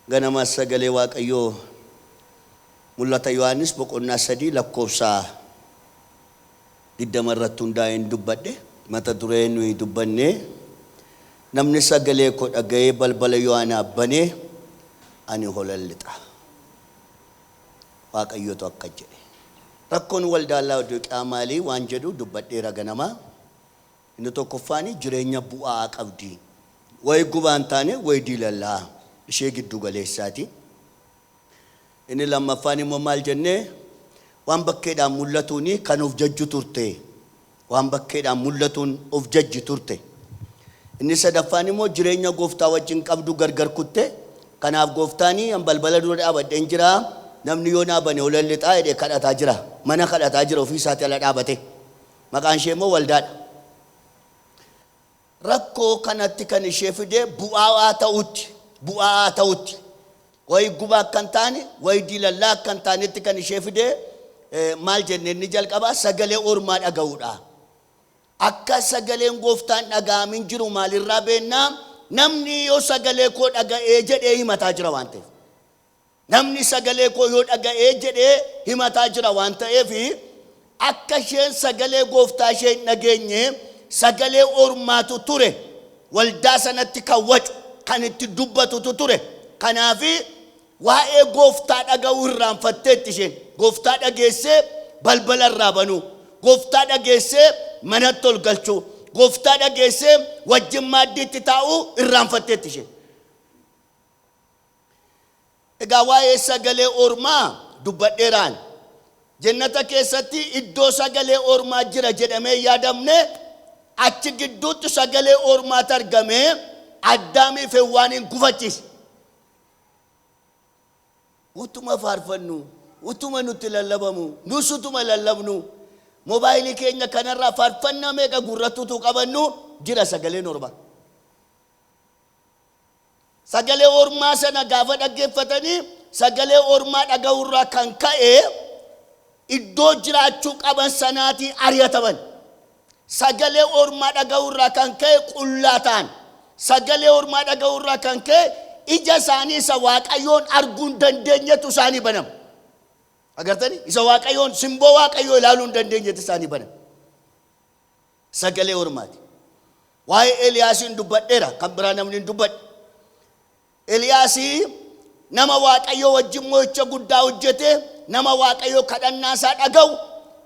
Ganama Sagalee Waaqayyoo Mul'ata Yohaannis boqonnaa 3 lakkoofsa 20 irratti hundaa'een dubbadhe. Mata duree nuyi dubbanne namni sagalee koo dhaga'ee balbala yoo anaaf bane ani holan lixa. Waaqayyotu akka jedhe. Rakkoon waldaa Laawodiiqiyaa maalii waan jedhu dubbadheera ganama. Inni tokkoffaani jireenya bu'a'aa qabdi. Wayi gubaa hin taane, wayi diilallaa ishee giddu galeessaati. Inni lammaffaani immoo maal jennee waan bakkeedhaan mul'atuuni kan of jajju turte. Waan bakkeedhaan mul'atuun of jajji turte. Inni sadaffaani immoo jireenya Gooftaa wajjin qabdu gargar kutte. Kanaaf Gooftaani an balbala dura dhaabadheen jira, namni yoo naa bane olan lixaa jedhee kadhataa jira. Mana kadhataa jira ofii isaatii ala dhaabatee. Maqaan ishee immoo waldaadha. Rakkoo kanatti kan ishee fide bu'aawaa ta'utti, bu'aa'aa ta'utti, wayi guba akka hin taane, wayi dilallaa akka hin taanetti kan ishee fide eh, maal jenne inni jalqabaa sagalee ormaa dhaga'uudha. Akka sagaleen gooftaan dhaga'amin jiru maalirraa beennaa namni yoo sagalee koo dhaga'ee jedhee himataa jira waan ta'eef. Namni sagalee koo yoo dhaga'e jedhee himataa jira waan ta'eef akka isheen sagalee gooftaa ishee hin dhageenye sagalee ormaatu ture waldaa sanatti kan wacu kan itti dubbatutu ture kanaaf waa'ee gooftaa dhaga'uu irraanfatteetti isheen gooftaa dhageessee balbala irraa banuu gooftaa dhageessee manatti ol galchuu gooftaa dhageessee wajjin maaddiitti taa'uu irraanfatteetti isheen Egaa waa'ee sagalee ormaa dubbadheeraan. Jennata keessatti iddoo sagalee ormaa jira jedhamee hin yaadamne, achi gidduutti sagalee ormaatu argamee Addaamiif Hewwaaniin gufachiise. Utuma faarfannu, utuma nutti lallabamu, nus utuma lallabnu, mobaayilii keenya kanarraa faarfannaa meeqa gurratti utuu qabannu jira sagaleen ormaa. Sagalee ormaa sana gaafa dhaggeeffatanii sagalee ormaa dhaga'uurraa kan ka'e iddoo jiraachuu qaban sanaatii ari'ataman. Sagalee ormaa dhaga'uurraa kan ka'e qullaa ta'an. Sagalee ormaa dhaga'uurraa kan ka'e ija isaanii isa waaqayyoon arguu hin dandeenyetu isaanii banama. Agartanii? Isa waaqayyoon simboo waaqayyoo ilaaluu hin dandeenyetu isaanii banama. Sagalee Ormaati. Waa'ee Eliyaasiin dubbadheera, kan biraa namni hin dubbadhe. Eliyaasi nama Waaqayyoo wajjin mo'icha guddaa hojjete, nama Waaqayyoo kadhannaa isaa dhaga'u,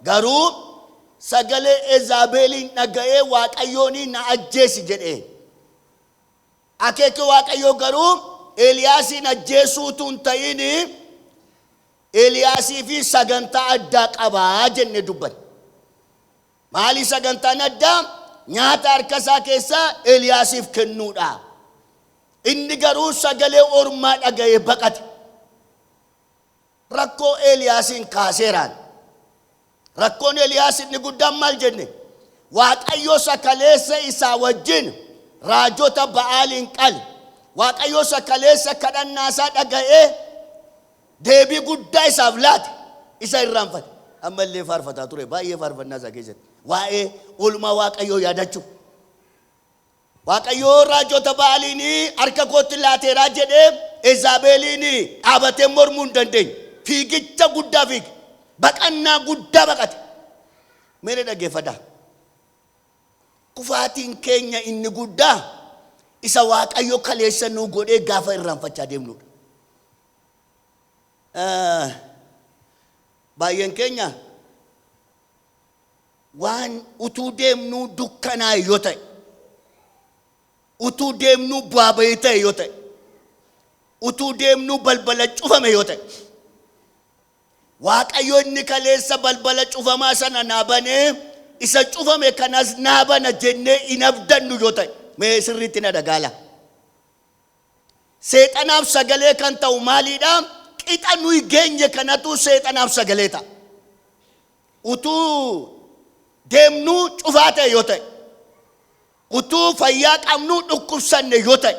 garuu sagalee Ezaabeeliin dhaga'ee Waaqayyoon na ajjeesi jedhe. Akeeki Waaqayyoo garuu Eliyaasiin ajjeesuu utuu hin ta'in Eliyaasii fi sagantaa addaa qabaa jennee dubbanne. Maali sagantaan addaa? Nyaata harka isaa keessaa Eliyaasiif kennuudha. Inni garuu sagalee ormaa dhaga'ee baqate. Rakkoo Eliyaasiin kaaseeraan. Rakkoon Eliyaas inni guddaan maal jenne? Waaqayyo sakaleessa isaa wajjin raajota Ba'aaliin qale. Waaqayyo sakaleessa kadhannaa isaa dhaga'ee deebii guddaa isaaf laate isa irraanfate. Amma illee faarfataa ture baay'ee faarfannaa isaa keessatti waa'ee oolmaa Waaqayyoo yaadachuu. Waaqayyoo raajota Ba'aaliin harka kootti laateeraa jedhee Ezaabeeliin dhaabatee mormuu hin dandeenye. Fiigicha guddaa fiige. Baqannaa guddaa baqate. Meena dhaggeeffadhaa. Kufaatiin keenya inni guddaa isa Waaqayyo kaleessa nuu godhee gaafa irraanfachaa deemnudha. Baay'een keenya waan utuu deemnuu dukkanaa'e yoo ta'e, utuu deemnuu bu'aa bahii ta'e yoo ta'e, utuu deemnuu balbala cufame yoo ta'e, Waaqayyo inni kaleessa balbala cufamaa sana naa banee isa cufame kanas naa bana jennee hin abdannu yoo ta'e mee sirriitti na dhagaala. Seexanaaf sagalee kan ta'u maaliidha? Qixa nuyi geenye kanatu seexanaaf sagalee ta'a. Utuu deemnuu cufaa ta'e yoo ta'e, utuu fayyaa qabnuu dhukkubsanne yoo ta'e,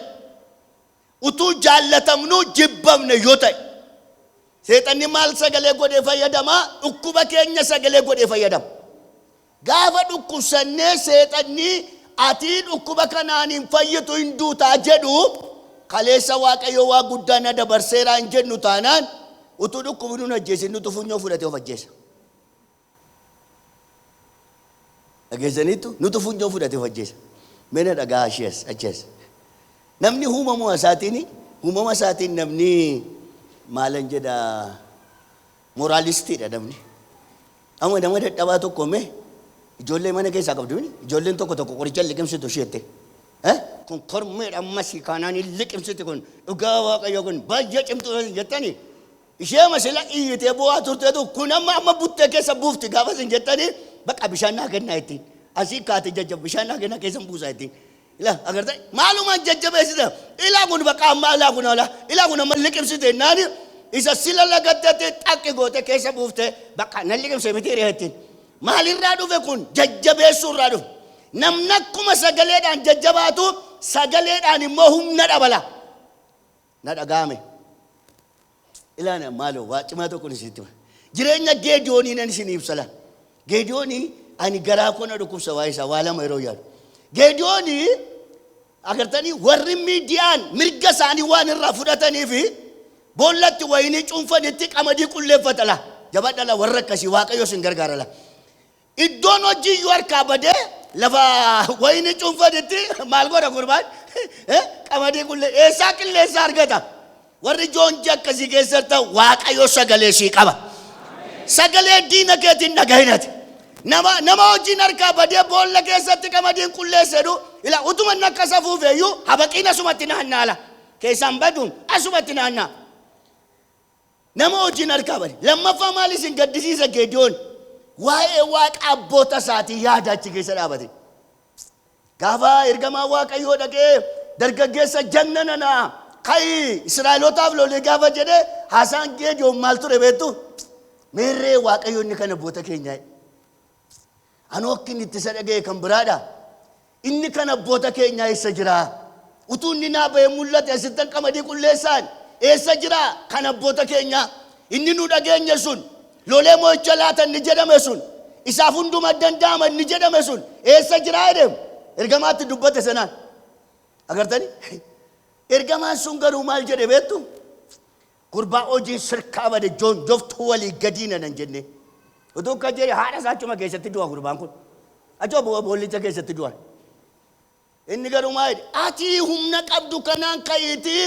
utuu jaallatamnuu jibbamne yoo ta'e, seexanni maal sagalee godhee fayyadama? Dhukkuba keenya sagalee godhee fayyadama. Gaafa dhukkubsannee seexanni atii dhukkuba kanaan hin fayyitu hin duuta jedhu kaleessa waaqayyoo waa guddaa na dabarseeraa hin jennu taanaan utuu dhukkubinuu hin ajjeesin nutu funyoo fudhatee of ajjeesa. Dhageessaniittu nutu funyoo fudhatee of ajjeesa. Meena dhagaa ashii as achi as. Namni uumamuma isaatiin uumama isaatiin namni maalan jedhaa Moraalistii dha namni. Amma nama dadhabaa tokko mee ijoollee mana keessaa qabdu mini ijoolleen tokko tokko qoricha hin liqimsitu ishee jettee. Eh? Kun kormeedha ammasii kaanaan hin liqimsiti kun dhugaa waaqayyo kun baay'ee cimtuu jettani ishee masila iyyitee bu'aa turteetu kun amma amma buttee keessa buufti gaafas hin jettani baqa bishaan naa kennaa ittiin asii kaate jajjab bishaan naa kennaa keessan buusaa ittiin Ila agartee maaluma jajjabeessita ilaa kun bakka ammaa ilaa kun ala ilaa kun amma liqimsite naani isa sila lagattatti xaqqi goote keessa buufte bakka nan liqimse miti hiriyaattiin maalirraa dhufe kun jajjabeessuu irraa dhufe namni akkuma sagaleedhaan jajjabaatu sagaleedhaan immoo humna dhabala na dhaga'ame. Ilaana maaloo waa cimaa tokkon isinitti hima. Jireenya Geediyoonii nan isin ibsa laa. Geediyoonii ani garaa koo na dhukkubsa waa'ee isaa waa lama yeroo yaadu. Geediyoonii agartanii warri miidiyaan mirga isaanii waan irraa fudhatanii fi boollatti wayinii cuunfanitti qamadii qulleeffata laa. Jabadha laa warra akkasii waaqayyo isin gargaara laa. Iddoon hojii iyyuu harkaa badee lafa wayinii cuunfanitti maal godha gurbaan? Eh, Qamadii qullee eessaa qilleensa argata? Warri joonjii akkasii keessatti waaqayyo sagalee sii qaba. Sagalee diina keetiin dhagahinati. Nama nama hojiin harkaa badee boolla keessatti qamadiin qulleessa jedhu ila utuma inni akka isa fuufeeyyuu habaqiin asumatti naannaala. Keessaan baduun asumatti naannaa. Nama wajjin harkaa bari. Lammaffaa maal isin gaddisiisa Geediyoon? Waa'ee waaqa abboota isaatii yaada achi keessa dhaabate. Gaafa ergamaa Waaqayyoo dhaqee dargaggeessa jagna nana ka'i Israa'elootaaf lolee gaafa jedhe haasaan Geediyoon maal ture beektu? Meerree Waaqayyo inni kan abboota keenyaa. Hanook inni itti isa dhaga'e kan biraadha. Inni kan abboota keenyaa eessa jira? Utuu inni naa ba'ee mul'ate asittan qamadii qulleessaan eessa jira? Kan abboota keenyaa inni nu dhageenye sun lolee mo'icha laata inni jedhame sun isaaf hunduma danda'ama inni jedhame sun eessa jira jedheem ergamaatti dubbate sanaan. Agartanii? Ergamaan sun garuu maal jedhe beektu? Gurbaa hojiin sirkaa bade joonjoftuu walii gadii nanan jennee. Utuu akka jedhe haadha isaa achuma keessatti du'a gurbaan kun. Achuma bo- boollicha keessatti du'a. Inni garuu maa jedhe ati humna qabdu kanaan ka'iitii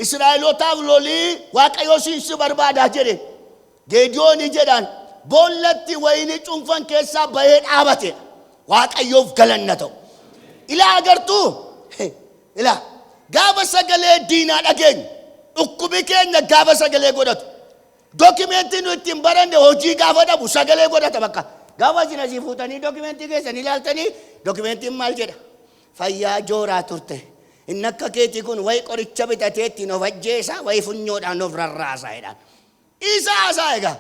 Israa'elootaaf lolii Waaqayyoo siin si barbaadaa jedhe. Geediyoonii jedhaan boollatti wayinii cuunfan keessaa bahee dhaabate. Waaqayyoof galanna ta'u. Ilaa agartuu Ilaa, gaafa sagalee diinaa dhageenyu, dhukkubi keenya gaafa sagalee godhatu, dokimentii nu ittiin baranne hojii gaafa dhabu sagalee godhata bakka. Gaafa isin asii fuutanii dokimentii keessan ilaaltanii dokimentiin maal jedha? Fayyaa jooraa turte. Inni akka keetii kun wayi qoricha bitatee ittiin of ajjeesa, wayi funyoodhaan of rarraasa jedhaan. Isa haasaa egaa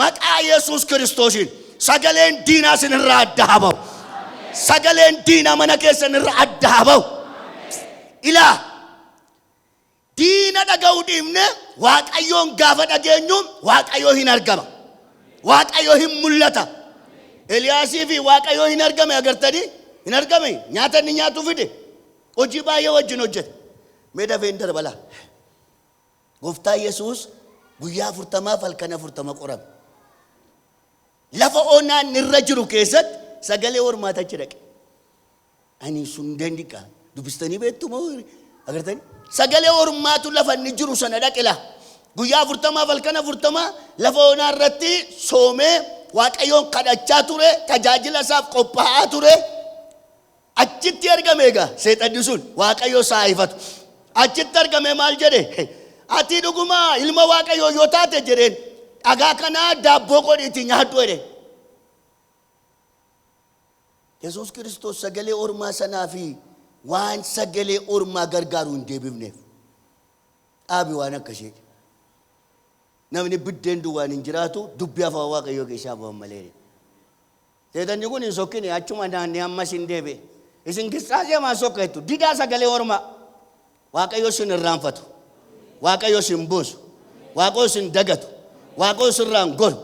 maqaa Yesuus Kiristoosiin sagaleen diinaa sin irraa adda haa ba'u. Sagaleen diinaa mana keessan irra adda haa ba'u. Ilaa diina dhaga'uu dhiifne waaqayyoon gaafa dhageenyu waaqayyoo hin argama. Waaqayyoo hin mul'ata. Eliyaasii fi waaqayyoo hin argame agartanii hin argame nyaata inni nyaatu fide hojii baay'ee wajjin hojjete. Mee dafee hin darbalaa. Gooftaa Yesuus guyyaa afurtamaaf halkan afurtama qorame. Lafa onaan irra jiru keessatti sagalee hormaata achi dhaqe. Ani sun dandiqa dubbistanii beektu moo agartanii? Sagalee hormaatu lafa inni jiru sana dhaqe laa. Guyyaa afurtamaaf halkan afurtama lafa onaa irratti soomee waaqayyoon kadhachaa ture, tajaajila isaaf qophaa'aa ture. Achitti argame egaa seexanni sun Waaqayyo isaa haa ifatu. Achitti argame maal jedhe? Ati dhuguma ilma Waaqayyoo yoo taate jedheen dhagaa kanaa daabboo godhiitii nyaadhu jedhe. Yesuus Kiristoos sagalee ormaa sanaa fi waan sagalee ormaa gargaaru hin deebifneef. Dhaabi waan akkasiiti. Namni biddeen duwwaan hin jiraatu dubbii afaan Waaqayyoo keessaa ba'an malee. Seexanni kun hin sokkine, achuma naannee ammas in deebi'e. Isin gissaaxee maan sokkeettu, didaa sagalee ormaa! Waaqayyo sin irraanfatu, Waaqayyo sin buusu, Waaqayyo sin dagatu, Waaqayyo sirraan goru.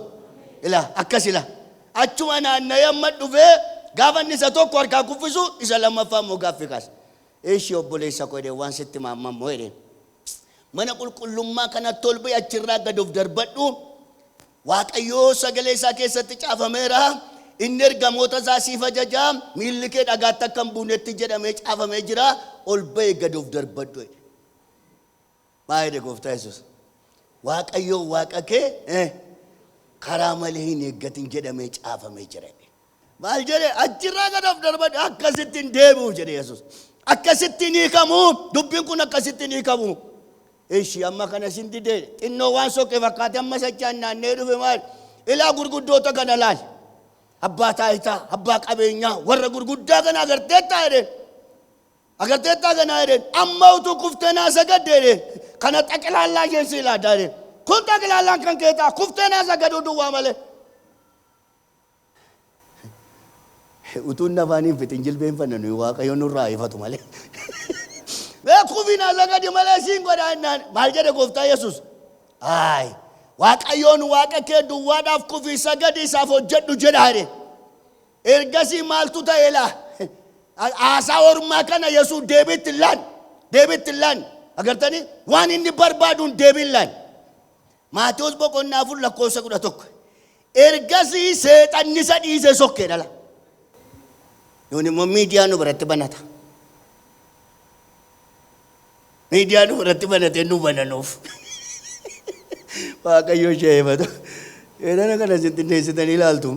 Ilaa, akkas ilaa. Achuma naanna'ee amma dhufee gaafa inni isa tokko harkaa kuffisu isa lammaffaa immoo gaaffii kaasa. Eeshi obboleessa koo jedheen waan sitti maamma immoo jedheen. Mana qulqullummaa kanatti ol ba'i achirraa gad of darbadhu Waaqayyo sagalee isaa keessatti caafameera, inni ergamoota isaa siif ajaja, miilli kee dhagaatti akka hin buunetti jedhamee caafamee jira, ol ba'i gad of darbadhu jedhe. Maa jedhe gooftaa Yesuus? Waaqayyo waaqa kee eh, karaa malee hin eeggatin jedhamee caafamee jira. Maal jedhe? Achirraa gad of darbadhe akkasitti hin deebi'u jedhe Yesuus. Akkasitti hin hiikamu dubbiin kun akkasitti hin hiikamu. Ishi amma kana sin dide xinnoo waan soqe fakkaate amma sachaan naannee dhufe maal? Ilaa gurguddoota kana laal. Abbaa taayitaa, abbaa qabeenyaa, warra gurguddaa kana agarteettaa jedheen. Agarteettaa kanaa jedheen. Amma utuu kuftee naa sagadde jedheen. Kana xaqilaallaa isheen si ilaadaa jedheen. Kun xaqilaallaan kan keetaa kuftee naa sagaduu duwwaa malee. Utuu inni afaanii hin fixin jilbeenfanna nuyi waaqayyo nurraa ifatu malee. Mee kufinaa sagadi malee siin godhaa innaan maal jedhe gooftaa Yesuus? Aay waaqayyoon waaqa kee duwwaadhaaf kufii sagadi isaaf hojjedhu jedhaa jedhe. Ergasii maaltu ta'e laa? Haasaa ormaa kana Yesuus deebiitti hin laanne. Deebiitti hin laanne. Agartanii waan inni barbaaduun deebii hin laanne. Maatewos boqonnaa 4 lakkoofsa 11. Ergasii seexanni isa dhiise sokkee dhala. Nuun immoo miidiyaa nu biratti banata. Miidiyaa nu biratti banatee nu bananuuf. Waaqayyo ishee eebatu. Seexana kana isin xinneessitanii ilaaltu.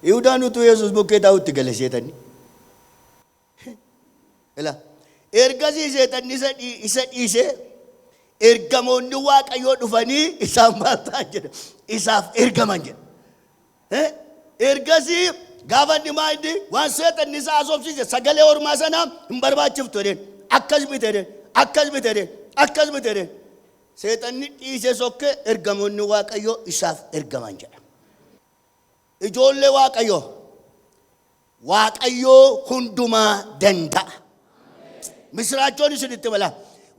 Yihudaan utuu Yesuus bukkee taa'utti gale seexanni. Ila. Ergasii seexanni isa dhii- isa dhiisee ergamoonni waaqayyoo dhufanii isaan maal ta'an jedha isaaf ergaman jedha. Eh, ergasii gaafa inni maa inni waan seexanni isaa asoofsiise sagalee ormaa sana hin barbaachiftu jedheen akkas miti jedheen akkas miti jedheen akkas miti jedheen seexanni dhiisee sokkee ergamoonni waaqayyoo isaaf ergaman jedha. Ijoollee Waaqayyoo, Waaqayyoo hundumaa danda'a. Misiraachoon isin itti balaa.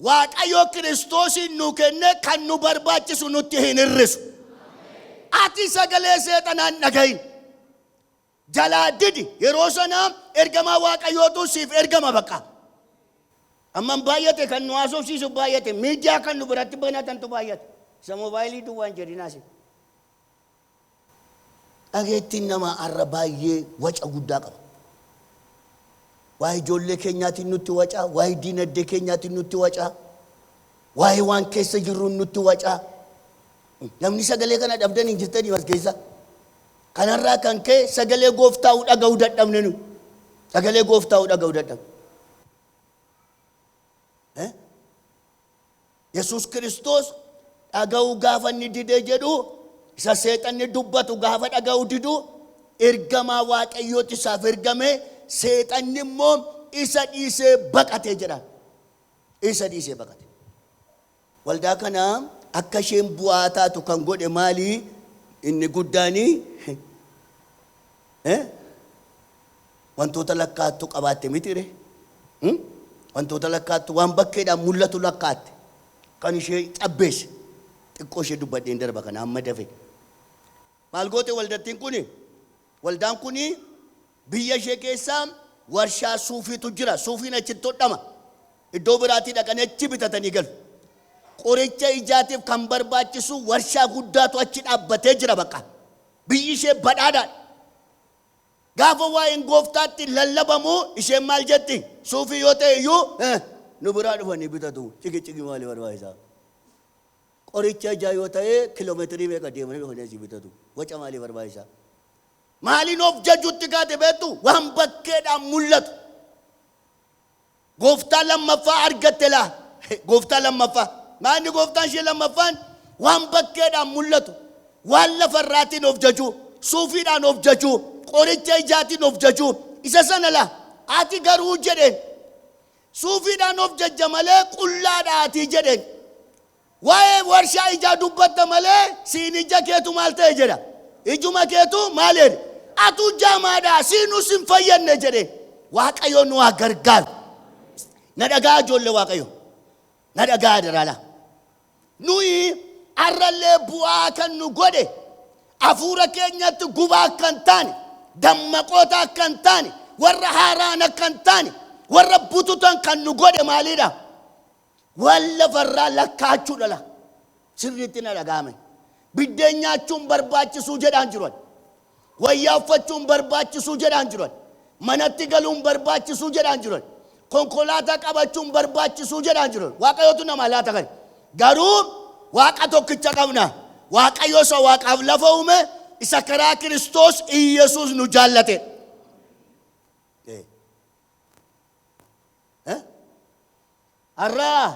Waaqayyoo Kiristoosiin nu kennee kan nu barbaachisu nutti hin hir'isu. Ati sagalee seexanaan dhagahin. Jalaa didi yeroo sana ergamaa Waaqayyootu siif ergama baqa. Amman baay'ate kan nu haasofsiisu baay'ate miidiyaa kan nu biratti banatantu baay'ate. Isa moobaayilii duwwaan jedhinaasi. Dhageettiin namaa arra baay'ee waca guddaa qaba. Waa'ee ijoollee keenyaatiin nutti wacaa, waa'ee diinagdee keenyaatiin nutti wacaa, waa'ee waan keessa jirruun nutti wacaa. Namni sagalee kana dhabdan hin jirtanii as keessa. Kanarraa kan ka'e sagalee gooftaa'u dhaga'uu dadhabne nu. Sagalee gooftaa'u dhaga'uu dadhabne. Eh? Yesuus Kiristoos dhaga'uu gaafa inni dide jedhu isa seexanni dubbatu gaafa dhaga'uu didu ergamaa waaqayyooti isaaf ergame seexanni immoo isa dhiisee baqate jedha. Isa dhiisee baqate. Waldaa kana akka isheen bu'aa taatu kan godhe maali? Inni guddaani eh? Wantoota lakkaattu qabaatte mitiire? Hmm? Wantoota lakkaattu waan bakkeedhaan mul'atu lakkaatte. Kan ishee cabbeesse. Xiqqoo ishee dubbadheen darba kana amma dafe. Maal goote waldattiin kuni? Waldaan kuni biyya ishee keessa warshaa suufiitu jira. Suufiin achitti hodhama. Iddoo biraatii dhaqanii achi bitatanii galu. Qoricha ijaatiif kan barbaachisu warshaa guddaatu achi dhaabbatee jira baqa. Biyyi ishee badhaadhaadha. Gaafa waa'een Gooftaatti lallabamu isheen maal jetti? Suufii yoo ta'e iyyuu nu biraa dhufanii bitatu. Ciqicciqii maalii barbaachisa? Qoricha ijaa yoo ta'e kilomeetirii meeqa deemanii dhufanii asii bitatu. Waca maalii barbaachisa? Maaliin of jajuutti kaate beektu? Waan bakkeedhaan mul'atu. Gooftaa lammaffaa argatte laa? Gooftaa lammaffaa. Maa inni gooftaan ishee lammaffaan waan bakkeedhaan mul'atu, waan lafa irraatiin of jaju, suufiidhaan of jaju, qoricha ijaatiin of jaju, isa sana laa? Ati garuu jedheen, suufiidhaan of jajja malee qullaadha ati jedheen. Waa'ee warshaa ijaa dubbatta malee siin ijja keetu maal ta'e jedha? Ijuma keetu maal jedhe? Atuu jaamaadha siinuu sin fayyadne jedhe. Waaqayyoon nu haa gargaaru. Na dhaga'aa ijoollee Waaqayyoo. Na dhaga'aa adaraalaa. Nuyi har'allee bu'aa kan nu godhe hafuura keenyatti gubaa akka hin taane, dammaqoota akka hin taane, warra haaraan akka hin taane, warra bututan kan nu godhe maalidha? Waan lafa irraa lakkaa'achuu dhala. Sirriitti na dhaga'ame. Biddeen nyaachuun barbaachisuu jedhaan jiru ani. Wayyaa uffachuun barbaachisuu jedhaan jiru ani. Manatti galuun barbaachisuu jedhaan jiru ani. Konkolaataa qabachuun barbaachisuu jedhaan jiru ani. Waaqayyootu namaa laata kana. Garuu Waaqa tokkicha qabna. Waaqayyo isa Waaqaaf lafa uume isa karaa Kiristoos Iyyasuus nu jaallate. Eh? Har'aa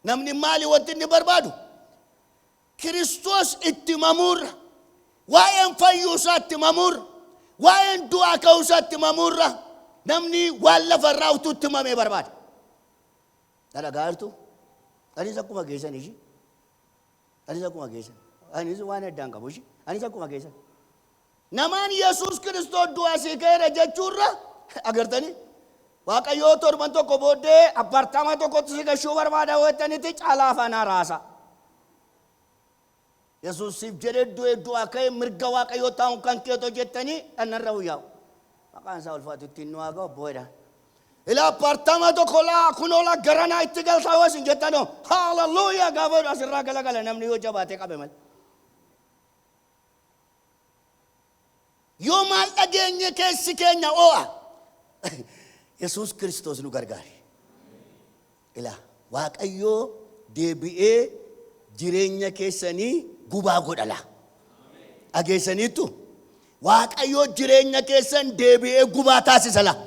namni maali wanti inni barbaadu? Kiristoos itti mamuurra, waa'een fayyuu isaa itti mamuurra, waa'een du'aa ka'uu isaa itti mamuurra namni waan lafa irraa utuu itti mamee barbaada. Dhalagaa jirtu? Anis akkuma keessan ishii. Anis akkuma keessan. Anis waan addaan qabu ishii. Anis akkuma keessan. Namaan Yesuus Kiristoos du'aa asii ka'eera jechuu irra agartanii Waaqayyoo torban tokko booddee appaartaamaa tokkotti si gashuu barbaada yoo jettanitti caalaa afaan haaraasaa. Yesuus siif jedhee du'ee du'aa ka'ee mirga Waaqayyoo taa'uun kan keetoo jettanii dhannarra huyyaa'u. Maqaan isaa ulfaatu ittiin nu haa ga'u booda. Ilaa appaartaamaa tokko laa kunoo laa garanaa itti galtaa yoo isin jettanoo haaleluyyaa gaafa asirraa galagala namni yoo jabaatee qabe malee. Yoo maal dhageenye keessi keenya oo'a. Yesuus Kiristoos nu gargaare. Ilaa Waaqayyoo deebi'ee jireenya keessanii gubaa godha laa. Dhageessaniittu? Waaqayyoo jireenya keessan deebi'ee gubaa taasisa laa.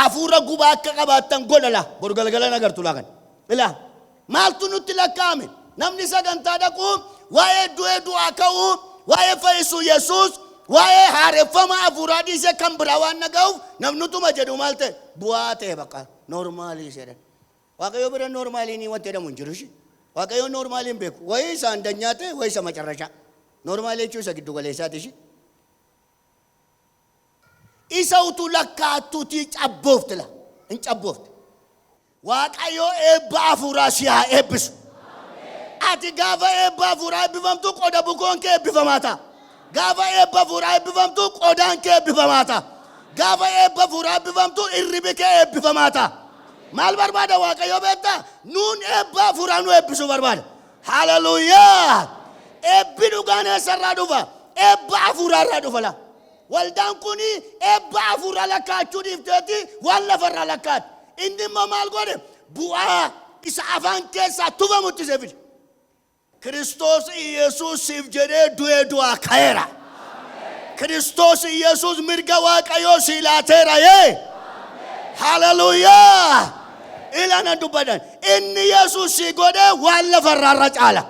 Hafuura gubaa akka qabaattan godha laa. Boru galgala hin agartu laa kan. Ilaa Maaltu nutti lakkaa'ame? Namni sagantaa dhaqu waa'ee du'ee du'aa ka'uu, waa'ee fayyisuu Yesuus, waa'ee haareffama hafuuraa dhiisee kan biraa waan dhaga'uuf namnutuma jedhu maal ta'e? Bu'aa ta'e baqa noormaalii jedhan. Waaqayyo bira noormaalii ni wanti jedhamu hin jiru ishii. Waaqayyo noormaalii hin beeku. Wayii isa andanyaa ta'e, wayii isa macarrashaa. Noormaalii jechuun isa giddu galeessaati ishii. Isa utuu lakkaa'attuutii cabboofte la hin cabboofte. Waaqayyoo eebba hafuuraa si haa eebbisu. Ati gaafa eebba hafuuraa eebbifamtu qoda bukoon kee eebbifamaa ta'a. Gaafa eebba hafuuraa eebbifamtu qodaan kee eebbifamaa ta'a. Gaafa eebba hafuuraa eebbifamtu irribi kee eebbifamaa ta'a. Maal barbaada Waaqayyoo beektaa? Nuun eebba hafuuraa nu eebbisuu barbaada. Haleluyaa! Eebbi dhugaan eessarraa dhufa? Eebba hafuuraarraa dhufa laa. Waldaan kun eebba hafuuraa lakkaa'achuu dhiifteeti waan lafarraa lakkaa'ate. Inni immoo maal godhe? Bu'aa isa afaan keessaa tufamutti isa fide. Kiristoos Iyyasuus siif jedhee du'ee du'aa ka'eera. Kiristoos Iyyasuus mirga Waaqayyoo sii laateera yee. Haleluuyaa! Ilana dubbadan inni Yesuus sii godhee waan lafa irraa irra caala.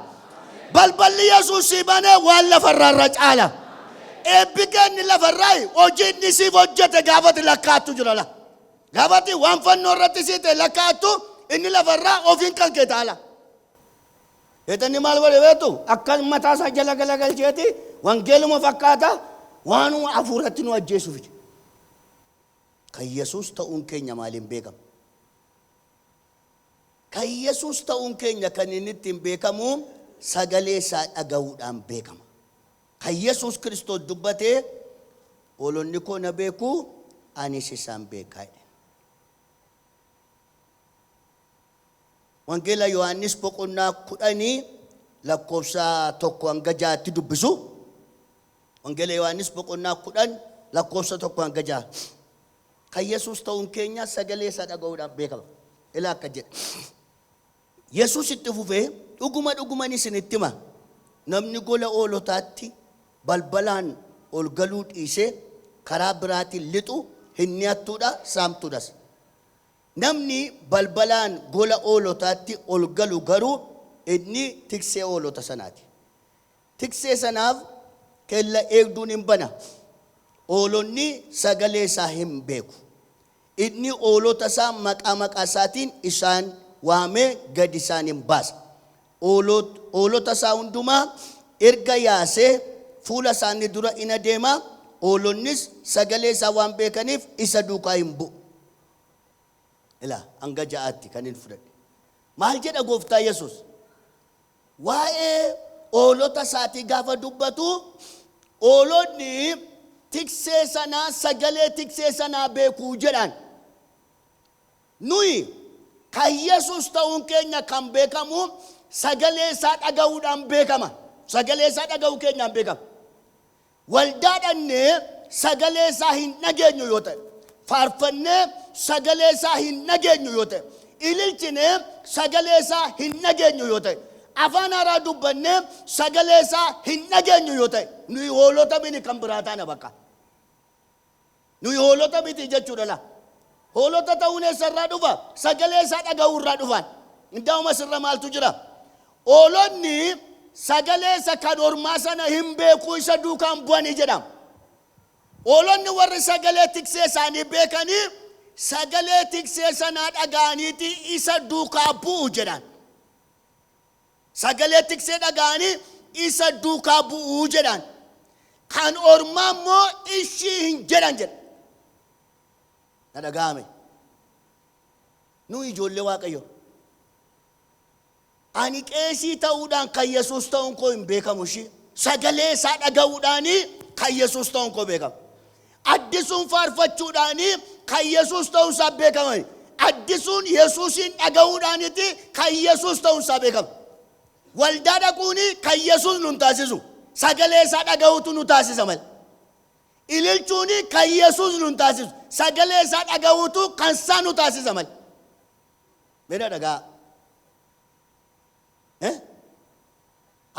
Balballi Yesuus sii banee waan lafa irraa irra caala. Eebbi keenni lafa irraa hojii inni siif hojjete gaafati lakkaa'attu jira la. Gaafati waan fannoo irratti sii ta'e lakkaa'attu inni lafa irraa ofiin kan kee taala. Seexanni maal godhe beektu? Akka mataa isaa jala galagalcheeti wangeeluma fakkaata waanuma hafuuratti nu ajjeesu fide. Kan Yesuus ta'uun keenya maaliin beekama? Kan Yesuus ta'uun keenya kan inni ittiin beekamu sagalee isaa dhaga'uudhaan beekama. Kan Yesuus Kiristoos dubbate hoolonni koo na beeku anis isaan beekaa jedhe. Wangeela Yohaannis boqonnaa 10 lakkoofsa 1-6tti dubbisu. Wangeela Yohaannis boqonnaa 10 lakkoofsa 1-6. Kan Yesuus ta'uun keenya sagalee isaa dhaga'uudhaan beekama. Ilaa akka jedhe. Yesuus itti fufee dhuguma dhuguman isinitti hima. Namni gola hoolotaatti balbalaan ol galuu dhiisee karaa biraatiin lixu hinni hattuudha, saamtuudhas. Namni balbalaan gola hoolotaatti ol galu garuu inni tiksee hoolota sanaa ti. Tiksee sanaaf kella eegduun in bana, hoolonni sagalee isaa hin beeku. Inni hoolota isaa maqaa maqaa isaatiin isaan waamee gad isaan in baasa. Hoolot, hoolota isaa hundumaa erga yaasee fuula isaanii dura in adeema, hoolonnis sagalee isaa waan beekaniif isa duukaa in bu'u. Ilaa, hanga ja'aatti kanin fudhadhe. Maal jedha gooftaa Yesuus? Waa'ee hoolota isaatii gaafa dubbatu, hoolonni tiksee sanaa sagalee tiksee sanaa beekuu jedhaan. Nuyi kan Yesuus ta'uun keenya kan beekamu sagalee isaa dhaga'uudhaan beekama. Sagalee isaa dhaga'uu keenyaan beekama. Waldaa dhaqnee sagalee isaa hin dhageenyu yoo ta'e, faarfannee sagalee isaa hin dhageenyu yoo ta'e, ililchinee sagalee isaa hin dhageenyu yoo ta'e, afaan haaraa dubbannee sagalee isaa hin dhageenyu yoo ta'e, nuyi hoolota mini kan biraa taana bakka. Nuyi hoolota miti jechuudha laa. Hoolota ta'uun eessarraa dhufa? Sagalee isaa dhaga'uu irraa dhufaan. Indaa'uma sirra maaltu jira? Hoolonni sagalee isa kan ormaa sana hin beekuu isa duukaan bu'anii jedhama. Hoolonni warri sagalee tiksee isaanii beekanii sagalee tiksee sanaa dhaga'aniiti isa duukaa bu'u jedhaan. Sagalee tiksee dhaga'anii isa duukaa bu'u jedhaan. Kan ormaa immoo ishii hin jedhan jedha. Na dhaga'ame. Nuyi ijoollee Waaqayyo. Ani qeesii ta'uudhaan kan Yesuus ta'uun koo hin beekamu ishii. Sagalee isaa dhaga'uudhaan kan Yesuus ta'uun koo beekama. Addisuun faarfachuudhaan kan Yesuus ta'uun isaa beekama. Addisuun Yesuusiin dhaga'uudhaaniti kan Yesuus ta'uun isaa beekama. Waldaa dhaquun kan Yesuus nun taasisu. Sagalee isaa dhaga'uutu nu taasisa malee. Ililchuun kan Yesuus nun taasisu. Sagalee isaa dhaga'uutu kan isaa nu taasisa malee. Meedha dhagaa. Eh?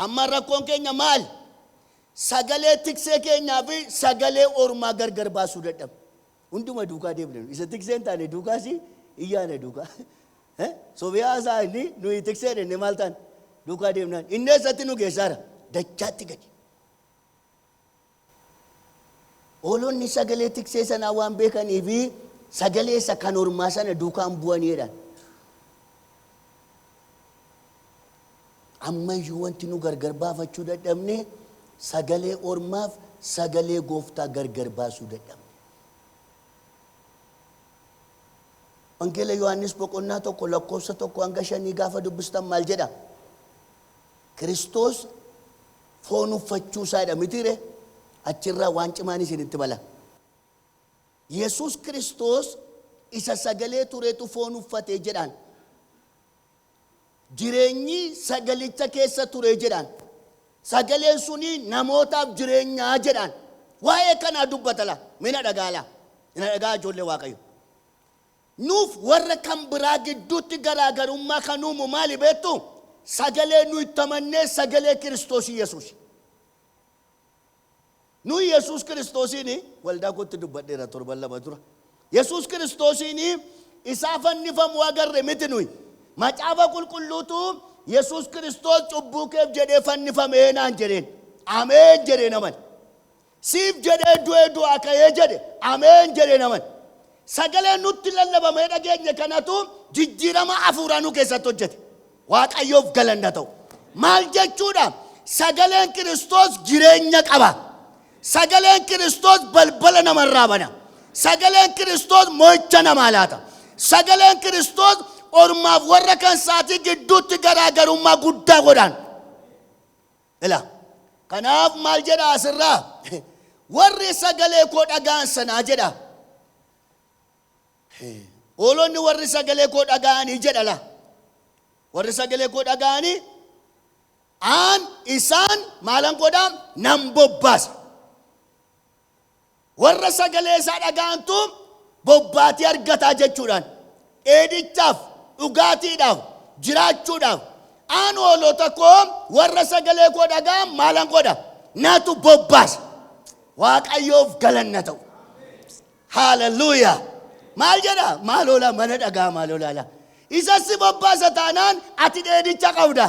Amma rakkoon keenya maali? Sagalee tiksee keenyaa fi sagalee ormaa gargar baasuu dadhabne. Hunduma duukaa deemna nu. Isa tiksee hin taane duukaas hin yaana duukaa. Eh? Sobee haasaa inni nuyi tiksee dhenne maal taane? Duukaa deemnaan. Inni eessatti nu geessaara? Dachaatti gadi. Hoolonni sagalee tiksee sanaa waan beekanii fi sagalee isa kan ormaa sana duukaan bu'anii jedhan. Ammayyuu wanti nu gargar baafachuu dadhabne sagalee ormaaf sagalee gooftaa gargar baasuu dadhabne. Wangeela Yohaannis boqonnaa tokko lakkoofsa tokko hanga shanii gaafa dubbistan maal jedha? Kiristoos foon uffachuu isaa dha mitii ree? Achi irraa waan cimaan isinitti mala. Yesuus Kiristoos isa sagalee turetu foon uffate jedhaan. Jireenyi sagalicha keessa ture jedhaan. Sagaleen suni namootaaf jireenyaa jedhaan. Waa'ee kanaa dubbatala. Mina dhagaala. Ina dhagaa ijoollee Waaqayyo. Nuuf warra kan biraa gidduutti garaa garummaa kan uumu maali beektuu? Sagalee nu itti amannee sagalee Kiristoos Yesuusi. Nuyi Yesuus Kiristoosiin waldaa kootti dubbadheera torban lama dura. Yesuus Kiristoosiin isaa fannifamuu agarre miti nuyi. Macaafa qulqulluutu Yesuus Kiristoos cubbuu keef jedhee fannifamee naan jedheen. Ameen jedheen amane. Siif jedhee du'ee du'aa ka'ee jedhe ameen jedhee hin amane. Sagalee nutti lallabamee dhageenye kanatu jijjiirama hafuuraa nu keessatti hojjete. Waaqayyoof galanni haa ta'u. Maal jechuudha? Sagaleen Kiristoos jireenya qaba. Sagaleen Kiristoos balbala namarraa bana. Sagaleen Kiristoos mo'icha namaa laata. Sagaleen Kiristoos ormaaf warra kan saatii gidduutti garaagarummaa guddaa godhaan. Ila. Kanaaf maal jedha asirraa? Warri sagalee koo dhaga'an sanaa jedha. Hoolonni warri sagalee koo dhaga'anii jedha la. Warri sagalee koo dhaga'anii aan isaan maalan godhaa nan bobbaasa. Warra sagalee isaa dhaga'antu bobbaatii argata jechuudhaan dheedichaaf, dhugaatiidhaaf, jiraachuudhaaf aan hoolota koo warra sagalee koo dhaga'an maalan godha? Natu bobbaasa. Waaqayyoof galanna ta'u. Haaleluyyaa. Maal jedha? Maal hoolaa mana dhagaa maal hoolaa laa. Isa si bobbaasa taanaan ati dheedicha qabda.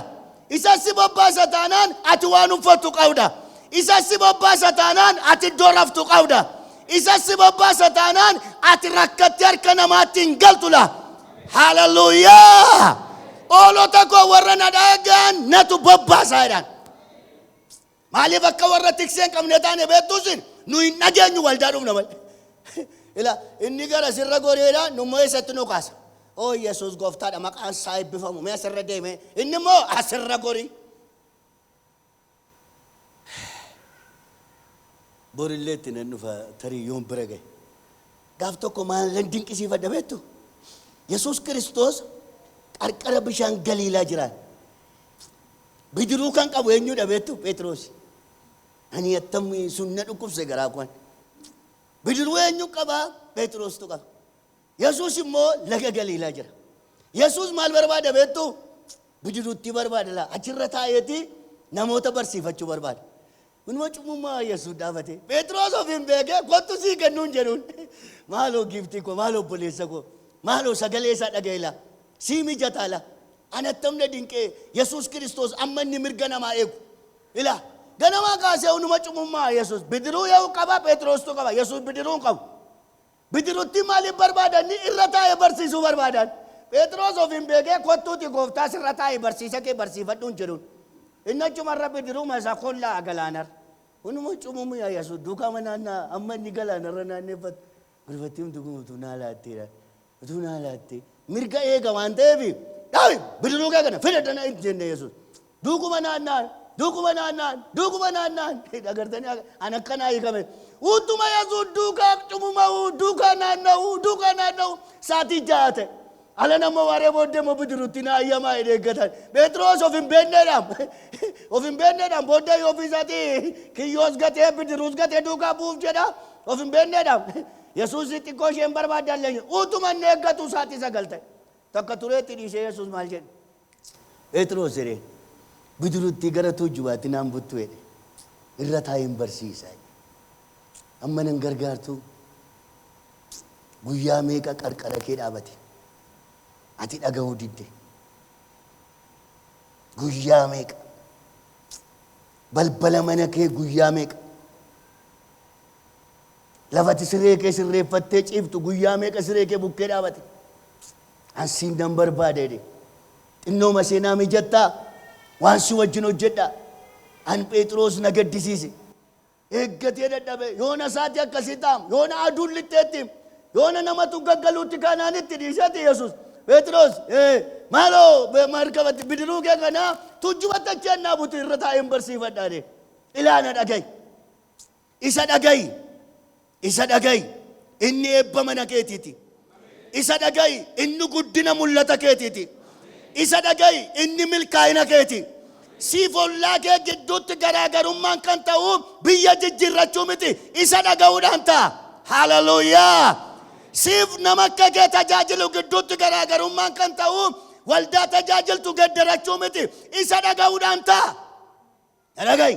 Isa si bobbaasa taanaan ati waan uffattu qabda. Isa si bobbaasa taanaan ati iddoo raftu qabda. Isa si bobbaasa taanaan ati rakkattee harka namaatti hin galtu laa. Haleluuyaa! Oolota koo warra na dhaga'an natu bobbaasaa jedhaan. Maaliif akka warra tiksee hin qabne taane beektuu sin nu hin dhageenyu waldaa dhufna malee. Ila inni gara sirra goreedha nu immoo eessatti nu kaasa. Oo Yesuus gooftaadha maqaan isaa eebbifamu mee asirra deemee inni immoo asirra gorii. Borillee itti nan dhufa tarii yoon bira gahe. Gaaf tokko maalan dinqisiifadha beektu? Yesuus Kiristoos qarqara bishaan Galiilaa jiraan. Bidiruu kan qabu eenyudha beektu? Pheexiroosi. Ani attam sun na dhukkubse garaa kuwan. Bidiruu eenyu qaba? Pheexiroostu qaba. Yesuus immoo laga Galiilaa jira. Yesuus maal barbaada beektu? Bidiruutti barbaada laa. Achirra taa'eeti namoota barsiifachuu barbaada. Kunuma cubbummaa Yesuus dhaabate. Phexros ofiin beekee kottu sii kennuun jedhuun. Maaloo giiftii koo, maaloo obboleessa koo, maaloo sagalee isaa dhaga'e laa. Sii mijataa laa. Ani attam na dinqee Yesuus Kiristoos amma inni mirga namaa eegu. Ilaa ganamaa kaasee hunuma cubbummaa Yesuus bidiruu eegu qaba, Phexrostuu qaba, Yesuus bidiruu hin qabu. Bidirutti maaliif barbaadan? Ni irra taa'e barsiisuu barbaadan. Pheexiroos ofiin beekee kottuuti gooftaa sirra taa'i barsiisa kee barsiifadhu hin jedhun. Inni achuma irra bidiruma isa kollaa galaanarra. Hunuma cumumu yaa Yesuus duukama naannaa amma inni galaanarra naanneffatu. Gurbattii humti kun utuu naa laatteedha. Utuu naa laattee mirga eega waan ta'eef dhaabi bidiruu kee kana fida dana hin jenne Yesuus. Duukuma naanna'an, duukuma naanna'an, duukuma naanna'an. Dhagartanii akka- an akkanaa hiikame. Utuma Yesuus duukaa cumuma'uu, duukaa naanna'uu, duukaa naanna'uu saatii ja'a ta'e. Alan ammoo waaree booddee immoo bidiruutti na ayyamaa jedhee eeggatan. Phexros of hin beekneedhaan of hin beekneedhaan booddee yoo ofii isaatii kiyyoos gatee bidiruus gatee duukaa bu'uuf jedha. Of hin beekneedhaan Yesuus xiqqoo isheen barbaaddan leenye. Utuma inni eeggatu saatii sagal ta'e. Takka tureetti dhiisee Yesuus maal jedhe? Pheexroos hiree bidiruttii gara tuujjubaatti naan buttu jedhe irra taa'een barsiisa jedhe. Amma nan gargaartuu? Guyyaa meeqa qarqara kee dhaabate? Ati dhaga'uu didde. Guyyaa meeqa? Balbala mana kee guyyaa meeqa? Lafati siree kee sirreeffattee ciiftu guyyaa meeqa siree kee bukkee dhaabate? An siin nan barbaada jedhe. Xinnooma ishee naa mijattaa? Waan si wajjin hojjedha. An Pheexiroos na gaddisiise. Eeggatee dadhabe. Yoona saatii akkasii taam. Yoona aduun lixxeettiim. Yoona namatu gaggaluutti kaanaan itti dhiiseeti Yesuus. Pheexiroos, Ee, maaloo be- markabatti bidiruu kee kana tuujjubatti achi ennaa butu irra taa'een barsiifadha jedhe. Ilaa na dhaga'i. Isa dhaga'i! Isa dhaga'i! Inni eebba mana keetii ti. Isa dhaga'i! Inni guddina mul'ata keetii ti. Isa dhaga'i! Inni milkaa'ina kee ti. Siif ollaa kee gidduutti garaagarummaan kan ta'u biyya jijjiirrachuu miti, isa dhaga'uudhaan ta'a. Haaleluyyaa! Siif nama akka kee tajaajilu gidduutti garaagarummaan kan ta'u waldaa tajaajiltu geddarachuu miti, isa dhaga'uudhaan ta'a. Na dhaga'i!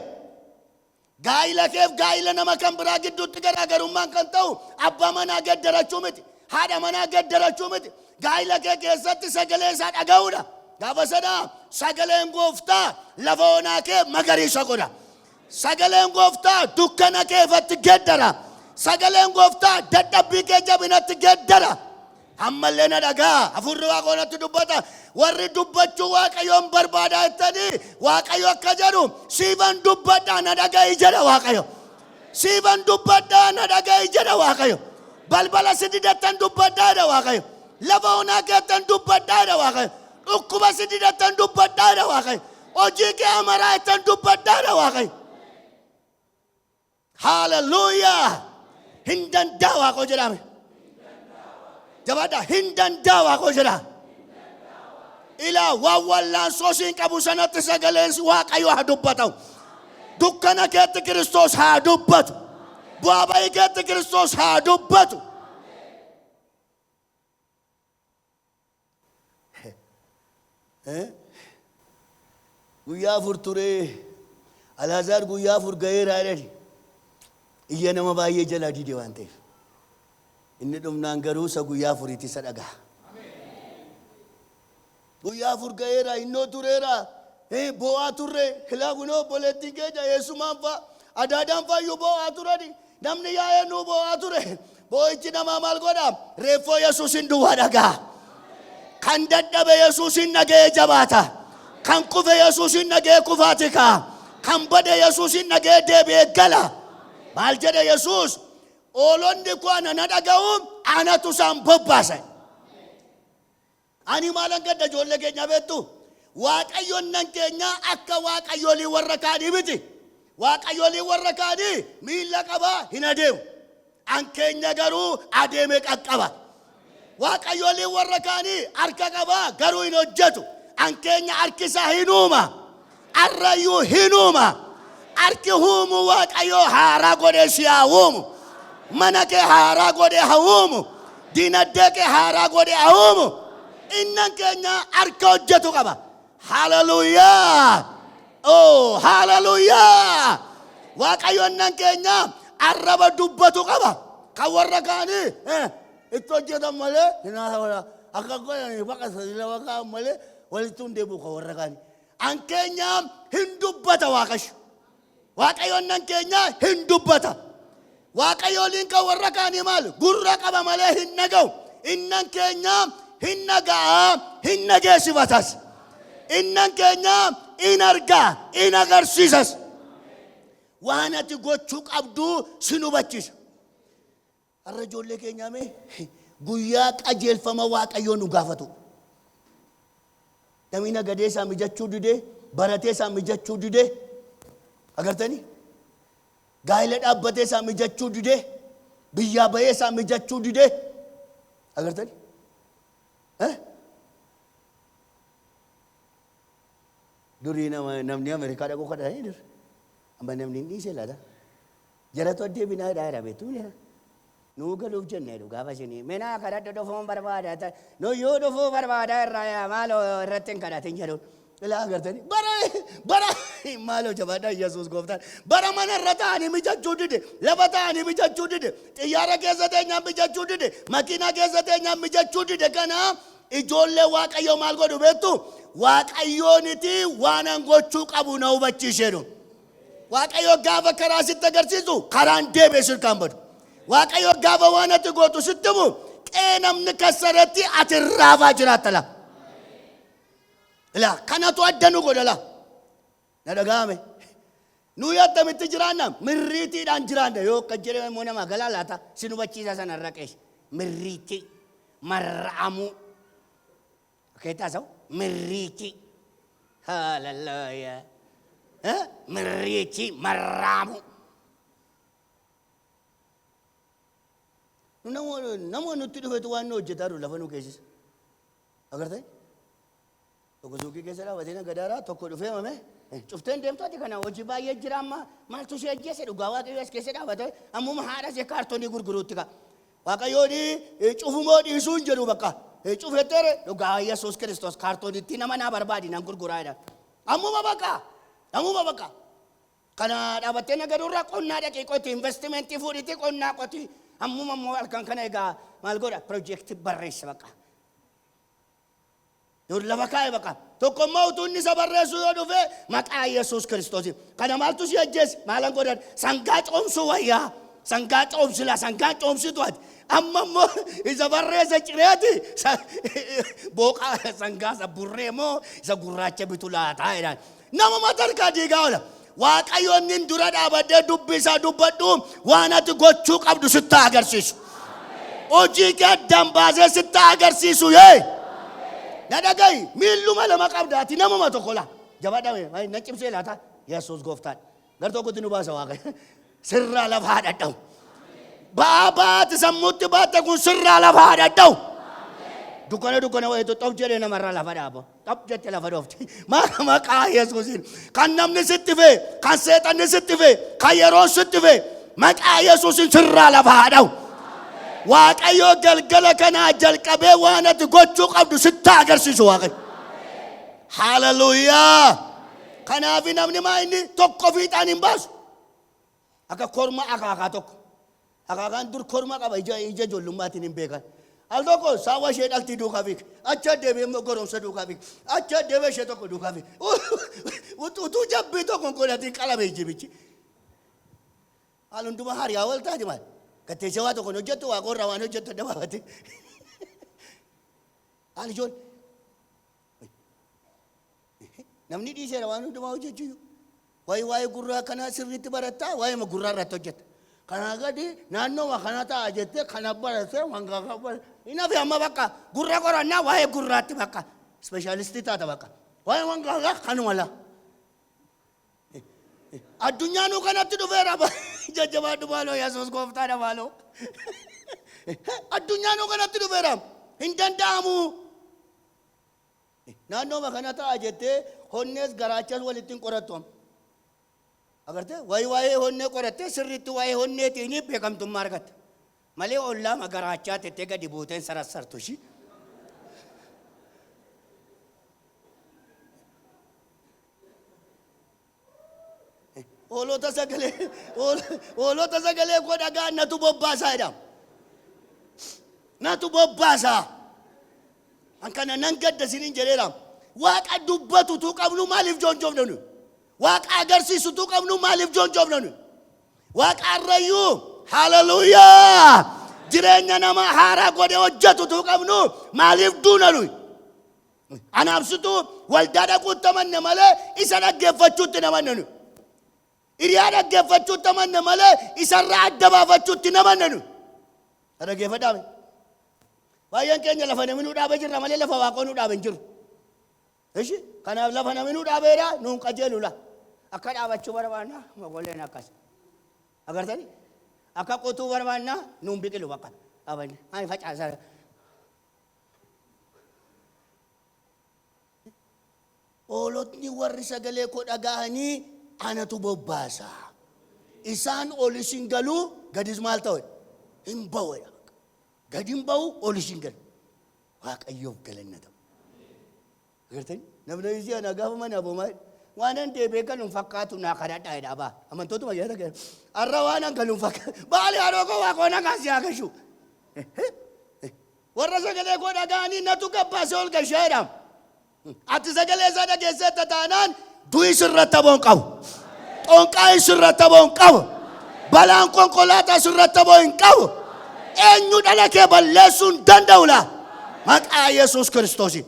Gaa'ila keef gaa'ila nama kan biraa gidduutti garaagarummaan kan ta'u abbaa manaa geddarachuu miti. Haadha manaa geddarachuu miti. Gaa'ila kee keessatti sagalee isaa dhaga'uudha. Gaafa sana sagaleen gooftaa lafa onaa kee magariisa godha. Sagaleen gooftaa dukkana keefatti geddara. Sagaleen gooftaa dadhabbii kee jabinatti geddara. Ammallee na dhaga'a, hafuurri Waaqoo natti dubbata, warri dubbachuu Waaqayyoon barbaadaa jettanii Waaqayyo akka jedhu siifan dubbadhaa na dhaga'i jedha Waaqayyo. Siifan dubbadhaa na dhaga'i jedha Waaqayyo. Balbala si didattan dubbadhaa jedha Waaqayyo. Lafa onaa keettan dubbadhaa jedha Waaqayyo. Dhukkuba si didattan dubbadhaa jedha Waaqayyo. Hojii kee amaraa jettan dubbadhaa jedha Waaqayyo. Hallelujah! Hin danda'a waaqoo jedhaame. Jabaadhaa hin danda'a waaqoo jedhaa. Ilaa waan wallaansoo siin qabu sanatti sagaleen waaqayyo haa dubbatu. Dukkana keetti Kiristoos haa dubbatu. Bu'aa ba'ii keetti Kiristoos haa dubbatu. Guyyaa afur turee Alaazaar guyyaa afur ga'eera jedhani iyya nama baay'ee jalaa dide waan ta'eef. Inni dhumnaan garuu isa guyyaa afuriitti isa dhagaha. Guyyaa afur ga'eera innoo tureera Ee boo'aa turre silaa kunoo obboleettiin keenya eessumaan fa'a adaadaan faayyuu boo'aa turani namni yaa'ee nuu boo'aa ture boo'ichi namaa maal godha reeffoo yesuusin duwwaa dhaga'a kan dadhabe yesuusin dhaga'ee jabaata kan kufe yesuusin dhaga'ee kufaati ka'a kan bade yesuusin dhaga'ee deebi'ee gala maal jedhe yesuus oolonni koo ana na dhaga'u anatu isaan bobbaasa Ani maalan gadda ijoollee keenyaa beektuu? Waaqayyonnan keenya akka waaqayyolii warra kaanii miti. Waaqayyoliin warra kaanii miilla qaba hin adeemu. An keenya garuu adeeme qaqqaba. Waaqayyoliin warra kaanii harka qaba garuu hin hojjetu. An keenya harki isaa hin uuma. Arrayyuu hin uuma. Harki huumuu Waaqayyoo haaraa godhee si haa uumu. Mana kee haaraa godhee haa uumu. Dinagdee kee haaraa godhee haa uumu. Innan keenya harka hojjetu qaba. Haleluuyaa! Oo, haleluuyaa! Waaqayyo innan keenya arraba dubbatu qaba. Kan warra kaanii eh, itti hojjetan malee hin haasawala. Akka godhanii baqa sadiila baqa malee walitti hin deebi'u kan warra kaanii. An keenyaa hin dubbata Waaqayyo. Waaqayyoon nan keenyaa hin dubbata. Waaqayyooliin kan warra kaanii maal gurra qaba malee hin dhaga'u. Innan keenyaa hin dhaga'a hin dhageessifatas. Innan keenyaa in argaa in agarsiisas. Waan ati gochuu qabdu sin hubachiisa. Har'a ijoollee keenyaa mee guyyaa qajeelfama Waaqayyoo nu gaafatu. Namni nagadee isaa mijachuu didee, baratee isaa mijachuu didee, agartanii? Gaa'ela dhaabbatee isaa mijachuu didee, biyyaa ba'ee isaa mijachuu didee, agartanii? Eh? Durii nama, namni Ameerikaa dhaquu kadhatanii dur. Amma namni hin dhiisee laata? Jaratu addee binaa hidhaa jira beektuu bile kana. Nuu galuuf jennee jedhu gaafa isinii minaa kadhadhu dhufuun barbaada ta nuyyuu dhufuu barbaada irraa yaa maaloo irratti hin kadhatin jedhu. Ilaa agartanii bara bara maaloo jabaadha Yesuus gooftaan bara mana irra taa'anii mijachuu dide lafa taa'anii mijachuu dide xiyyaara keessa teenyaan mijachuu dide makiinaa keessa teenyaan mijachuu dide kana ijoollee waaqayyoo maal godhu beektu waaqayyooniti waanan gochuu qabu na hubachiisheedhu. Waaqayyo gaafa karaa sitti agarsiisu karaan deebi'ee sirkaan badu. Waaqayyo gaafa waan ati gootu sitti himu qe'ee namni kassaratti ati irraafaa jiraatta laa. Ilaa kanatu adda nu godha laa. Na dhaga'ame. Nuyi attamitti jiraanna mirriitiidhaan jiraanna yoo akka jedhame immoo namaa galaa laata si hubachiisa sana irra qeeshe. Mirriitii marra'amuu. Fakkeetti haasa'u mirriichi haalallooyaa Eh, mirriichi marraamu. Nu Nama nama nutti dhufetu waan nu hojjetaa jiru lafa nu keessisa. Agartee? Tokko suuqii keessa dhaabatee na gadaaraa tokko dhufee mame eh, cufteen deemtooti kana hojii baay'ee jira amma maaltu si ajjeese dhugaa waaqayyoo as keessa dhaabate ammuma haadha see kaartoonii gurguruutti ka. Waaqayyoon cufu moo dhiisuu hin jedhu bakka. Cufettere dhugaa Yesuus Kiristoos kaartoonittii nama naa barbaadi nan gurguraa jedhan. Ammuma bakka. Ammuma bakka. Kana dhaabattee nagadurra qonnaa dhaqii qoti investimentii fuudhiti qonnaa qoti. Ammuma immoo halkan kana egaa maal godha pirojekti barreessi bakka. Yoo lafa kaa'e baqa. Tokko immoo utuu inni isa barreessuu yoo dhufe maqaa Yesuus Kiristoosiin. Kana maaltu si ajjeese? Maalan godhan? Sangaa coomsuu wayyaa. Sangaa coomsila, sangaa coomsitu ati. Amma immoo isa barreessa cireeti. Booqaa sangaa isa burree moo isa gurraacha bitu laataa jedhaan. Namuma tarkaa diigaa oola. Waaqayyo inni dura dhaabadhee dubbii isaa dubbadhu waan ati gochuu qabdu sitti haa agarsiisu. Hojii kee addaan baasee sitti haa agarsiisu yee. Na dhaga'i miilluma lama qabda ati namuma tokko laa. Jabadha mee na cimsee laata Yesuus gooftaan. Gar tokkotti nu baasa waaqayyo. Sirraa lafa haa dhadha'u. Ba'aa baate sammuutti baatte kun sirraa lafa haa dhadha'u. Dukkana dukkana wayitu xof jedhee namarra lafa dhaaba. Xof jette lafa dhoofti. Maka maqaa Yesuusiin. Kan namni sitti fee, kan seexanni sitti fee, kan yeroon sitti fee. Maqaa Yesuusiin sirraa lafa haa dha'u. Waaqayyoo galgala kanaa jalqabee waan ati gochuu qabdu sitti agarsiisu waaqayyo. Haaleluyyaa! Kanaaf namni maa inni tokko fiixaan hin baasu. Akka korma akaakaa tokko. Akaakaan dur korma qaba ija ija ijoollummaatiin hin beekan. Al tokko saawwa ishee dhaltii duukaa fiig. Achi deebi'ee immoo goromsa duukaa fiig. Achi deebi'ee ishee tokko duukaa fiig. Utuu jabbii tokko hin godhatiin qalame jibichi. Haal hundumaa hariyaa wal taati maal? Gatteessee waa tokko hin hojjettu waa qorra waan hojjettu adda baafate. Haal ijoollee. Namni dhiiseera waan hundumaa hojjechuu. Waa'ee waa'ee gurraa kanaa sirriitti barattaa waa'eema gurraa irratti hojjetta. Kanaa gadi naannooma kana ta'a jettee kana barattee waan kana baratte. Hin hafe amma bakka gurra qorannaa waa'ee gurraatti bakka ispeeshaalistii taata bakka. Waa'ee waan kana kanuma laa. Addunyaa nuu kanatti dhufeera jajjabaadhu maaloo Yesuus gooftaadha maaloo. Addunyaa nuu kanatti dhufeera hin danda'amu. Naannooma kana ta'a jettee honnees garaachas walitti hin qorattu amma. Agartee wayi waa'ee honnee qorattee sirriitti waa'ee honneetiin beekamtummaa argatta. Malee ollaama garaachaa tettee gadi buuteen sarassartu ishii. Hoolota sagalee hool- hoolota sagalee koo dhagaa natu bobbaasaa jedhama. Natu bobbaasaa. An kana nan gadda isiniin jedheera. Waaqa dubbatutu qabnu maaliif joonjoofna nuyi? Waaqa agarsiisutu qabnu maaliif joonjoofna nuyi? Waaqa arrayyuu haleluuyaa jireenya nama haaraa godhe hojjetutu qabnu maaliif duuna nuyi? Anaaf situu waldaa dhaquutti amanna malee isa dhaggeeffachuutti hin amannanu. Hiriyaa dhaggeeffachuutti amanna malee isarraa adda baafachuutti hin amannanu. Na dhaggeeffadhaa mee? Baay'een keenya lafa namni nu dhaabee jirra malee lafa waaqoo nu dhaabe hin jiru. Ishi kanaaf lafa namni nu dhaabeera nuun qajeelula. Akka dhaabachuu barbaanna mogoleen akkas. Agartanii? Akka qotuu barbaanna nuun biqilu bakka dhaabanne. Ani facaasaa Hoolotni warri sagalee koo dhaga'anii anatu bobbaasa. Isaan olis hin galu, gadis maal ta'u? Hin ba'u. Gad hin ba'u, olis hin galu. Waaqayyoof galanna ta'u. Agartanii? Namni ishee ana gaafa mana aboo maal waanan deebi'ee galuun fakkaatu naa kadhadhaa jedha abaa. Amantootuma keessa ta'e. Har'a waanan galuun fakkaatu. Baali haroo koo waa koo nagaan si haa gashu. Warra sagalee koo dhaga'anii natu gabbaasee ol gashee jedhaam. Ati sagalee isaa dhageesseetta taanaan du'i sirratti aboo hin qabu. Xonqaayi sirratti aboo hin qabu. Balaan konkolaataa sirratti aboo hin qabu. Eenyu dhala kee balleessuu hin danda'u laa. Maqaa Yesuus Kiristoosiin.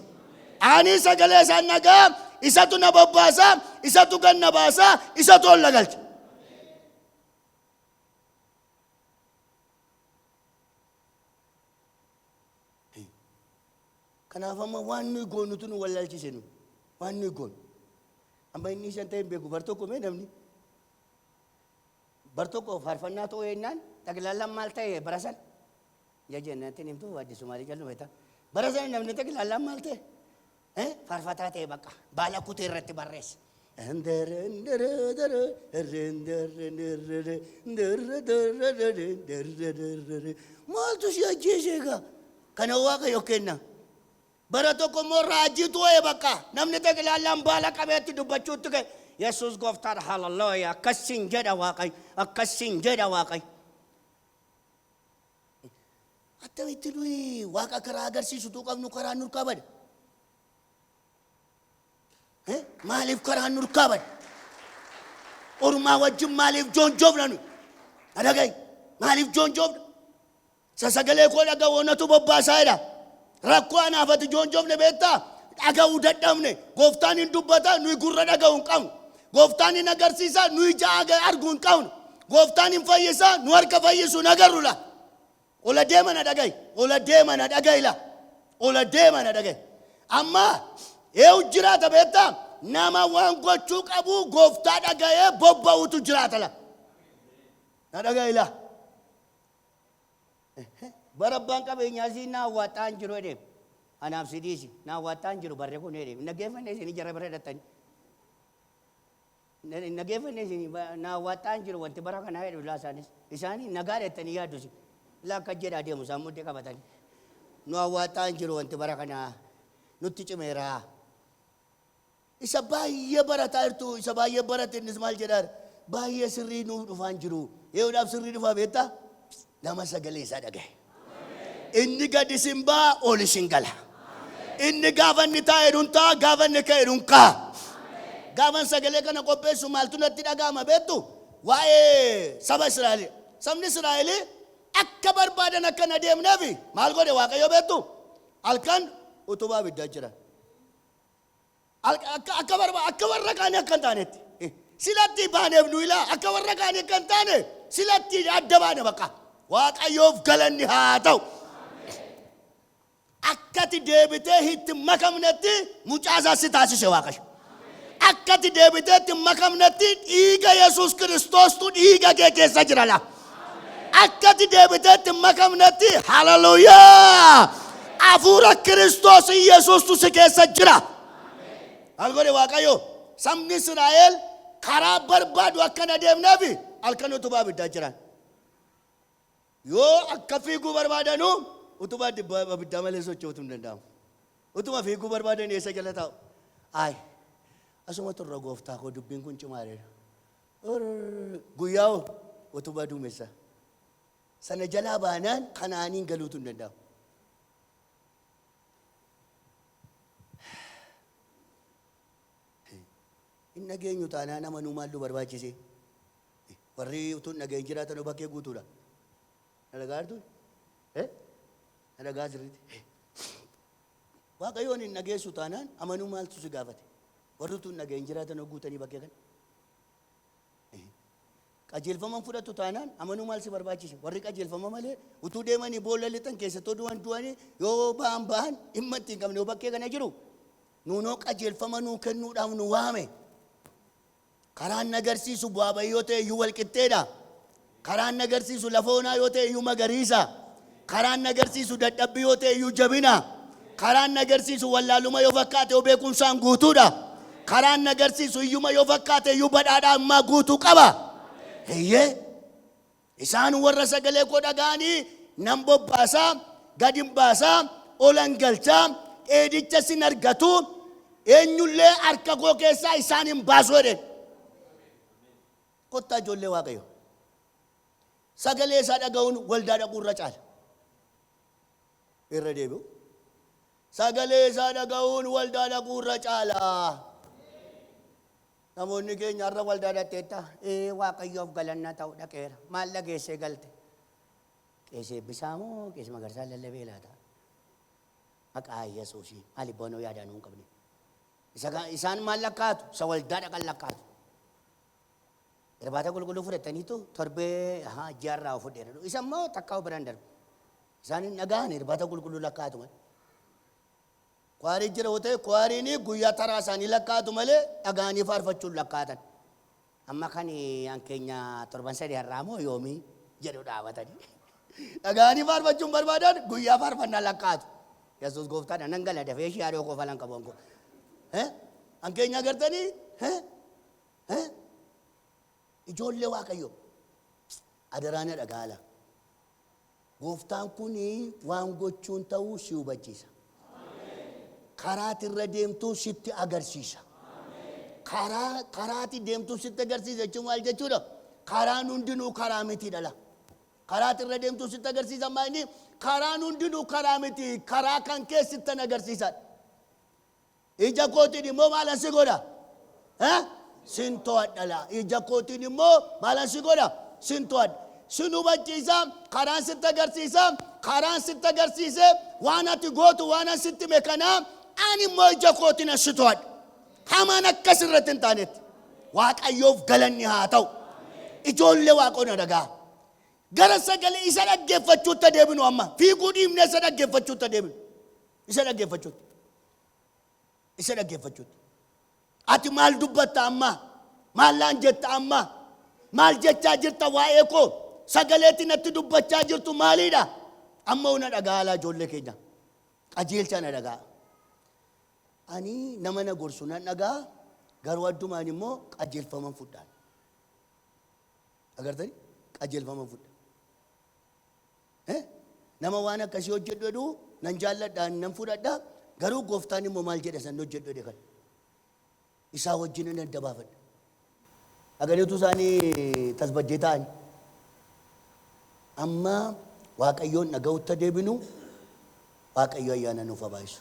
Ani sagalee isaan dhaga'a, isatu na bobbaasa, isatu gad na baasa, isatu ol na galcha. Kanaaf amma waan nuyi goonutu nu wallaalchise nu. Waan nuyi goonu. Amma inni shan ta'e hin beeku bar tokko mee namni. Bar tokko faarfannaa ta'uu eennaan xaglaallaan maal ta'e bara san? Ija jennatti hin himtu addisuu maalii jallu beektaa? Bara san namni xaglaallaan maal ta'e? Eh, Faarfataa ta'e baqa baala kutee irratti barreesse. Maaltu si ajjeese egaa? Kana waaqayyo kenna. Bara tokko immoo raajiitu wa'e bakka namni xeqilaallaan baala qabeetti dubbachuutti ka'e. Yesuus gooftaadha hallelujah akkas siin jedha waaqayyo akkas siin jedha waaqayyo. Attamitti nuyi waaqa karaa agarsiisutuu qabnu karaan nurkaa bade? Eh, Maaliif karaan nurkaa bade? Ormaa wajjin maaliif joonjoofna nuyi? Adagay maaliif joonjoofna? Isa sagalee koo dhaga'u anatu bobbaasaa jedha. Rakkoo anaaf ati joonjofne beektaa? Dhaga'uu dadhabne. Gooftaan hin dubbata, nuyi gurra dhaga'u hin qabnu. Gooftaan hin agarsiisa, nuyi ija aga- argu hin qabnu. Gooftaan hin fayyisa, nu harka fayyisu hin agarru la. Ol adeema na dhaga'i. Ol adeema na dhaga'i la. Ol adeema na dhaga'i. Amma eewu jiraata beektaa? Nama waan gochuu qabu gooftaa dhaga'ee bobba'utu jiraata la. Na dhaga'i la. Bara abbaan qabeenyaa isii na awwaaxxaa hin jiru jedheef. Anaaf si dhiisi. Na awwaaxxaa hin jiru barri kun jedheef. Hin dhaggeeffanne isin jara bira hidhattanii. Hin dhaggeeffanne isin na awwaaxxaa hin jiru wanti bara kanaa jedhu laa isaanis. Isaanii nagaa dheettanii yaaddu isin. Laa akka jedhaa deemu isaan muddee qabatanii. Nu awwaaxxaa hin jiru wanti bara kanaa nutti cimeeraa. Isa baay'ee barataa jirtu, isa baay'ee barate innis maal jedhaar? Baay'ee sirrii nuuf dhufaan jiru. Eeyoodhaaf sirrii dhufaa beektaa? Nama sagalee isaa dhagahe. Inni gad isin ba'a, ol isin gala. Inni gaafa inni taa'e dhun ta'a, gaafa inni ka'e dhun ka'a. Gaafan sagalee kana qopheessu maaltu natti dhaga'ama beektu? Waa'ee saba Israa'el. Sabni Israa'el akka barbaadan akka hin adeemneef maal godhe Waaqayyo beektu? Halkan utubaa abiddaa jira. Akka, akka, akka, barba, akka warra kaanii akka hin taanetti. Eh, Silatti baaneef nu ilaa akka warra kaanii akka hin taane silatti adda baane bakka. Waaqayyoof galanni haa ta'u. Akkati deebitee itti hin makamnetti mucaa isaa si taasise Waaqayyo. Akkati deebitee itti hin makamnetti dhiiga Yesuus Kiristoostu dhiiga kee keessa jira laa. Akka ati deebiteetti hin makamnetti haleluyaa. Hafuura Kiristoos Yesuustu si keessa jira. Maal godhe Waaqayyo? Sabni Israa'el karaa barbaadu akka hin adeemneef halkan utubaa abiddaa jiran. Yoo akka fiiguu barbaadanu utubaa dibba- abiddaa malee socho'uutu hin danda'amu. Utuma fiiguu barbaadan eessa jala taa'u? Ayi, asuma turra gooftaa koo dubbiin kun cimaareera. Or guyyaa utubaa duumessaa sana jalaa baanaan Kana'aaniin galuutu hin danda'amu. Hin dhageenyu taanaan nama nuu maaltu barbaachisee? Warri utuu hin dhageenye jiraatan hoo bakkee guutuudha. Na dhagaa jirtu? Eh? Na dhagaa sirriitti? Eh. Waaqayyoon hin dhageessu taanaan amanuu maaltu si gaafate? Warri utuu hin dhageenye jiraatan hoo guutanii bakkee kana? Qajeelfama hin fudhattu taanaan amanuu maal si barbaachise? Warri qajeelfama malee utuu deemanii boolla lixan keessattuu du'an du'anii yoo ba'an ba'an dhimma itti hin qabne yoo bakkee kana jiru nuunoo qajeelfama nuu kennuudhaaf nu waame. Karaan nagarsiisu bu'aa bayii yoo ta'e iyyuu wal qixxeedha. Karaan inni agarsiisu lafa onaa yoo ta'e iyyuu magariisa. Karaan inni agarsiisu dadhabbii yoo ta'e iyyuu jabina. Karaan inni agarsiisu wallaaluma yoo fakkaate iyyuu beekumsaan guutuudha. Karaan inni agarsiisu hiyyuma yoo fakkaate iyyuu badhaadhaa ammaa guutuu qaba. Eeyyee. Isaan warra sagalee koo dhaga'anii nan bobbaasa, gad hin baasa, olan galcha, dheedichas hin argatu, eenyullee harka koo keessaa isaan hin baasu jedheen. Kottaa ijoollee Waaqayyoo! Sagalee isaa dhaga'uun waldaa dhaquu irra caala. Irra deebi'u. Sagalee isaa dhaga'uun waldaa dhaquu irra caala. Namoonni keenya har'a waldaa dhaqxeetta. Ee Waaqayyoof galanna ta'u dhaqeera. Maal dhageessee galte? Qeesee Eebbisaa moo Qeesee Magarsaa lallabee laata? Maqaa Yesuusii maaliif boonoo yaadaa nuu hin qabne? Isa ka- Isaan maal lakkaa'atu? Isa waldaa dhaqan lakkaa'atu. Irbaata qulqulluu fudhattaniitu torbee ahaa ji'arraa of fudheera jedhu. Isa immoo takkaa biraan darbe. Isaan hin dhagahan irbaata qulqulluu lakkaa'atu malee. Kwaarii jira yoo ta'e kwaariin guyyaa taraa isaanii lakkaa'atu malee dhagahanii faarfachuun lakkaa'atan. Amma kan an keenya torban sadii har'aa moo yoomii jedhu dhaabatanii. Dhagahanii faarfachuun barbaadan guyyaa faarfannaa lakkaa'atu. Yesuus gooftaadha nan gala dafee ishee haadhoo koo falan qabu ankoo. Eh? An keenya agartanii? Eh? Hee? Ijoollee Waaqayyo. Adaraa na dhagaala. Gooftaan kun waan gochuun ta'uu si hubachiisa. Karaati irra deemtuu sitti agarsiisa. Karaa karaati deemtuu sitti agarsiisa jechuun maal jechuudha? Karaan hundinuu karaa miti dhala. Karaati irra deemtuu sitti agarsiisa maal inni? Karaan hundinuu karaa miti. Karaa kan kee sittan agarsiisa. Ija kootiin immoo maalan si godha? Eh? Sin to'adha laa. Ija kootiin immoo maalan si godha? Sin to'adha. Sin hubachiisa, karaan sitti agarsiisa, karaan sitti agarsiise waan ati gootu waan an sitti hime kana ani immoo ija kootiin an si to'adha. Hamaan akkas irratti hin taanetti. Waaqayyoof galanni haa ta'u. Ijoollee waaqoona dhagaa. Gara sagalee isa dhaggeeffachuutti adeeminu amma. Fiiguu dhiibnee isa dhaggeeffachuutti adeeminu. Isa dhaggeeffachuutti. Isa dhaggeeffachuutti. Ati maal dubbatta ammaa? Maal naan jetta ammaa? Maal jechaa jirta waa'ee koo? Sagaleetti natti dubbachaa jirtu maaliidha? Amma hoo na dhaga'aa laa ijoollee keenya. Qajeelchaa na dhaga'aa. Ani nama na gorsu nan dhaga'aa garuu addumaan immoo qajeelfaman fudhaan. Agartanii? Qajeelfaman fudha. Nama waan akkasii hojjedhu jedhu nan jaalladha, nan fudhadha, garuu gooftaan immoo maal jedha san hojjedhu jedhe kan isaa wajjin nan adda baafadha. Dhagaliitu isaanii tasbaddee ta'an. Amma Waaqayyoon dhaga'utti deebinu Waaqayyo ayyaana nuuf habaayisu.